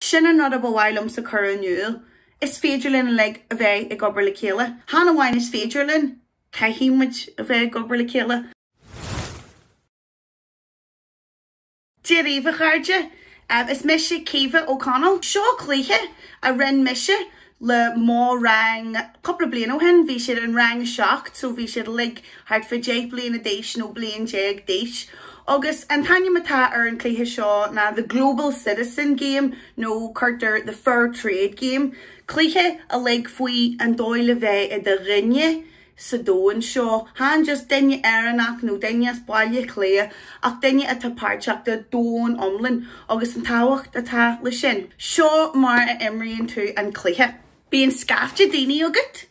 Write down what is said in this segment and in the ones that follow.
Sin an rud a ba mhaith liomsa cur in iúl. Is féidir linn uilig a bheith ag obair le chéile. Chan amháin is féidir linn, caithfidh muid a bheith ag obair le chéile. Dia daoibh a chairde, is mise Caoimhe O'Connell. Seo cluiche a rinn mise le mo rang cúpla bliain ó shin, bhí siad in rang a seacht so bhí siad uilig thart fá deich bliana d'aois nó bliain déag d'aois. Agus an t-ainm atá ar an chluiche seo ná The Global Citizen Game nó cuirtear The Fair Trade Game, cluiche uilig faoi an dóigh le bheith i do dhuine, sa domhan seo. Chan just duine Éireannach nó duine as Baile Átha Cliath ach duine atá páirteach den domhan iomlán agus an tábhacht atá le sin. Seo mar a imríonn tú an cluiche. Bíonn scaifte daoine agat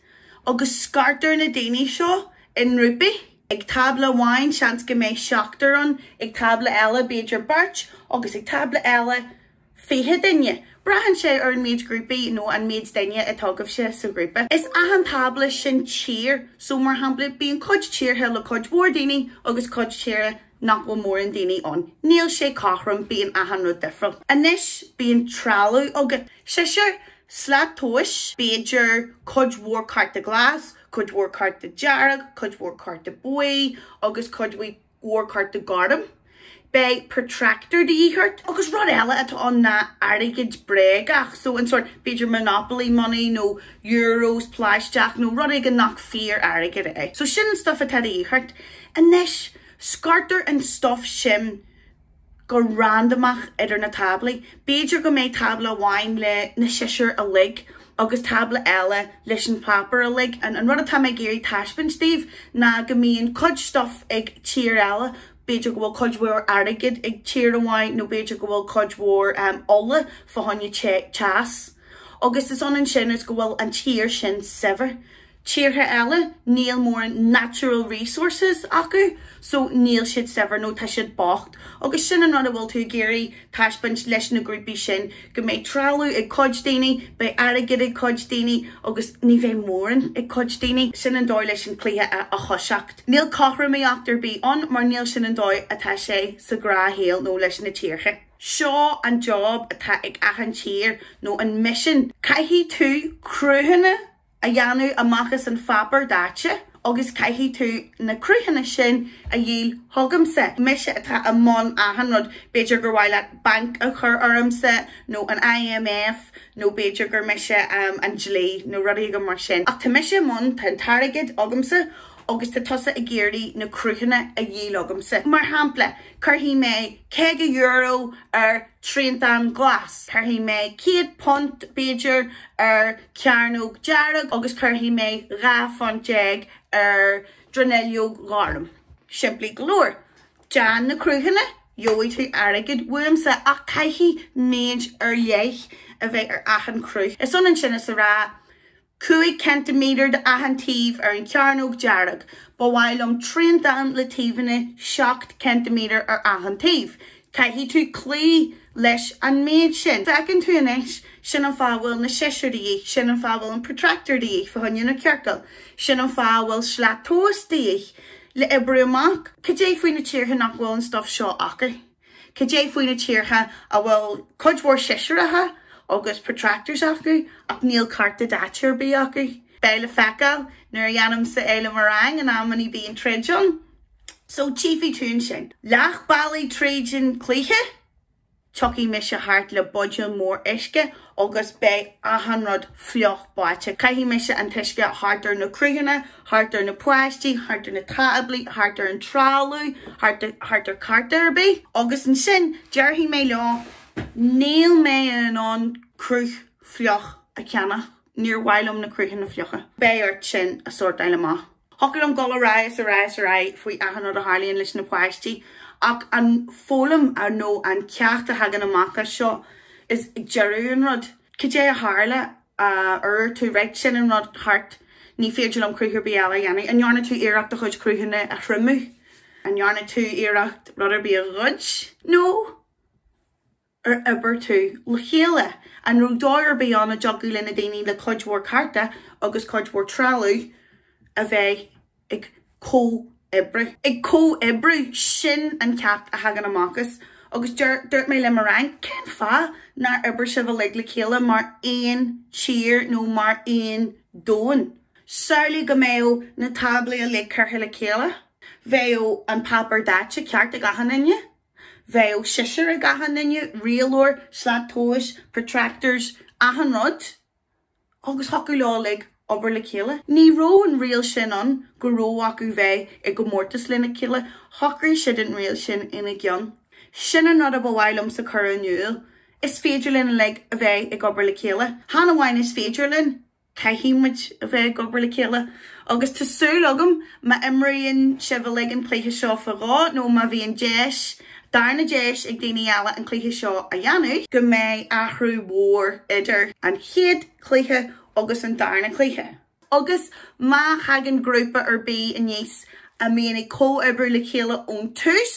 agus scartar na daoine seo i ngrúpaí. Ag tábla amháin seans go mbeidh seachtar ann, ag tábla eile b'fhéidir beirt agus ag tábla eile, 20 duine. Braitheann sé ar an méid grúpaí nó an méid duine atá agaibhse sa ghrúpa. Is achan tábla sin tír so mar shampla bíonn cuid tíortha le cuid mhór daoine agus cuid tíortha nach bhfuil mórán daoine ann. Níl sé cothrom, bíonn achan rud difriúil. Anois bíonn trealamh agat, siosúr, slat tomhais, b'fhéidir cuid mhór cárta glas, cuid mhór cárta dearg, cuid mhór cárta buí agus cuid mhór cárta gorm, beidh protractor de dhíth ort, agus rud eile atá ann ná airgead bréagach, so an sórt, b'fhéidir monopoly money nó euros plaisteach nó rud éigin nach fíor airgead é. So sin an stuif atá de dhíth ort. Anois, scartar an stuif sin go randamach idir na táblaí. B'fhéidir go mbeidh tábla amháin le na siosúir uilig agus tábla eile leis an páipéar uilig. An rud atá mé ag iarraidh taispeáint daoibh ná go mbíonn cuid stuff ag tír eile, b'fhéidir go bhfuil cuid mhór airgid ag tír amháin nó b'fhéidir go bhfuil cuid mhór ola fá choinne teas agus is ionann sin is go bhfuil an tír sin saibhir. tíortha eile níl mórán natural resources acu so níl siad saibhir nó tá siad bocht agus sin an rud a bhfuil tú ag iarraidh taispeáint leis na grúpaí sin, go mbeidh trealamh ag cuid daoine, beidh airgead ag cuid daoine agus ní bheidh mórán ag cuid daoine. Sin an dóigh leis an cluiche a thoiseacht. Níl cothromaíocht ar bith ann mar níl sin an dóigh atá sé sa ghnáthshaol nó leis na tíortha. Seo an job atá ag achan tír nó an mission. Caithfidh tú cruthanna a dhéanamh amach as an pháipéar daite agus caithfidh tú na cruthanna sin a dhíol chugamsa. Mise atá i mbun achan rud, b'fhéidir gur mhaith leat banc a chur ormsa nó an IMF nó b'fhéidir gur mise an dlí nó rud éigin mar sin. Ach tá mise i mbun, tá an t-airgead agamsa agus tá tusa ag iarraidh na cruthanna a dhíol chugamsa. Mar shampla, cuirfidh mé €50 ar thriantán glas, cuirfidh mé £100, b'fhéidir, ar cearnóg dhearg agus cuirfidh mé dhá phunt déag ar dronuilleog ghorm. Simplí go leor. Déan na cruthanna, gheobhaidh tú airgead uaimse ach caithfidh méid ar leith a bheith ar achan chruth. Is ionann sin is a rá, cúig ceintiméadar do achan taobh ar an chearnóg dearg. Ba mhaith liom triantán le taobhanna seacht ceintiméadar ar achan taobh. Caithfidh tú cloí leis an méid sin. Feiceann tú anois, sin an fáth a bhfuil na siosúir de dhíth, sin an fáth a bhfuil an protractor de dhíth, fáinne an chiorcail, sin an fáth a bhfuil slat tomhais de dhíth, le oibriú amach cad é faoi na tíortha nach bhfuil an stuff seo acu, cad é faoi na tíortha a bhfuil cuid mhór siosúracha agus protractors acu ach níl cárta daite ar bith acu. Beidh le feiceáil. Nuair a dhéanaimse é le mo rang in amannaí bíonn troid ann. So tchífidh tú ansin. Leath bealaigh tríd an chluiche, tiocfaidh mise thart le buidéal mór uisce agus beidh achan rud fliuch báite. Caithfidh mise an t-uisce thart ar na cruthanna, thart ar na páistí, thart ar na táblaí, thart ar an trealamh, thart ar cárta ar bith. Agus ansin déarfaidh mé leo, 'Níl mé in ann cruth fliuch a cheannach. Níor mhaith liom na cruthanna fliucha. Beidh ort sin a sórtáil amach. Thiocfadh liom dul ar aghaidh is ar aghaidh is ar aghaidh faoi achan rud a tharlaíonn leis na páistí ach an foghlaim nó an ceacht a thagann amach as seo is ag deireadh an rud, cad é a tharla, ar dhúirt tú, raight, sin an rud thart, ní féidir liom cruth ar bith eile a dhéanamh. An ndearna tú iarracht do chuid cruthanna a thriomú? An ndearna tú iarracht rud ar bith a ghoid? No. ar oibir tú le chéile? An raibh dóigh ar bith ann a dtiocfadh le na daoine le cuid mhór cárta agus cuid mhór trealamh a bheith ag comhoibriú? Sin an ceacht a thagann amach as agus dúirt mé le mo rang, cén fáth nár oibir sibh uilig le chéile mar aon tír nó mar aon domhan? Samhlaigh go mbeadh na táblaí uilig curtha le chéile. Bheadh an páipéar daite ceart ag achan nduine. Bheadh siosúr ag achan nduine, rialóir, slat tomhais, protractors, achan rud, agus thiocfadh leo uilig obair le chéile. Ní raibh an riail sin ann go raibh acu bheith i gcomórtas lena chéile, shocraigh siad an riail sin ina gceann. Sin an rud a ba mhaith liomsa chur in iúl, is féidir linn uilig a bheith ag obair le chéile. Chan amháin is féidir linn, Caithfidh muid a bheith ag obair le chéile agus tá súil agam má imríonn sibh uilig an cluiche seo faoi dhó nó má bhíonn deis, darna deis ag daoine eile an cluiche seo a dhéanamh, go mbeidh athrú mhór idir an chéad chluiche agus an darna cluiche. Agus má thagann grúpa ar bith aníos a mbíonn ag comhoibriú le chéile ón tús,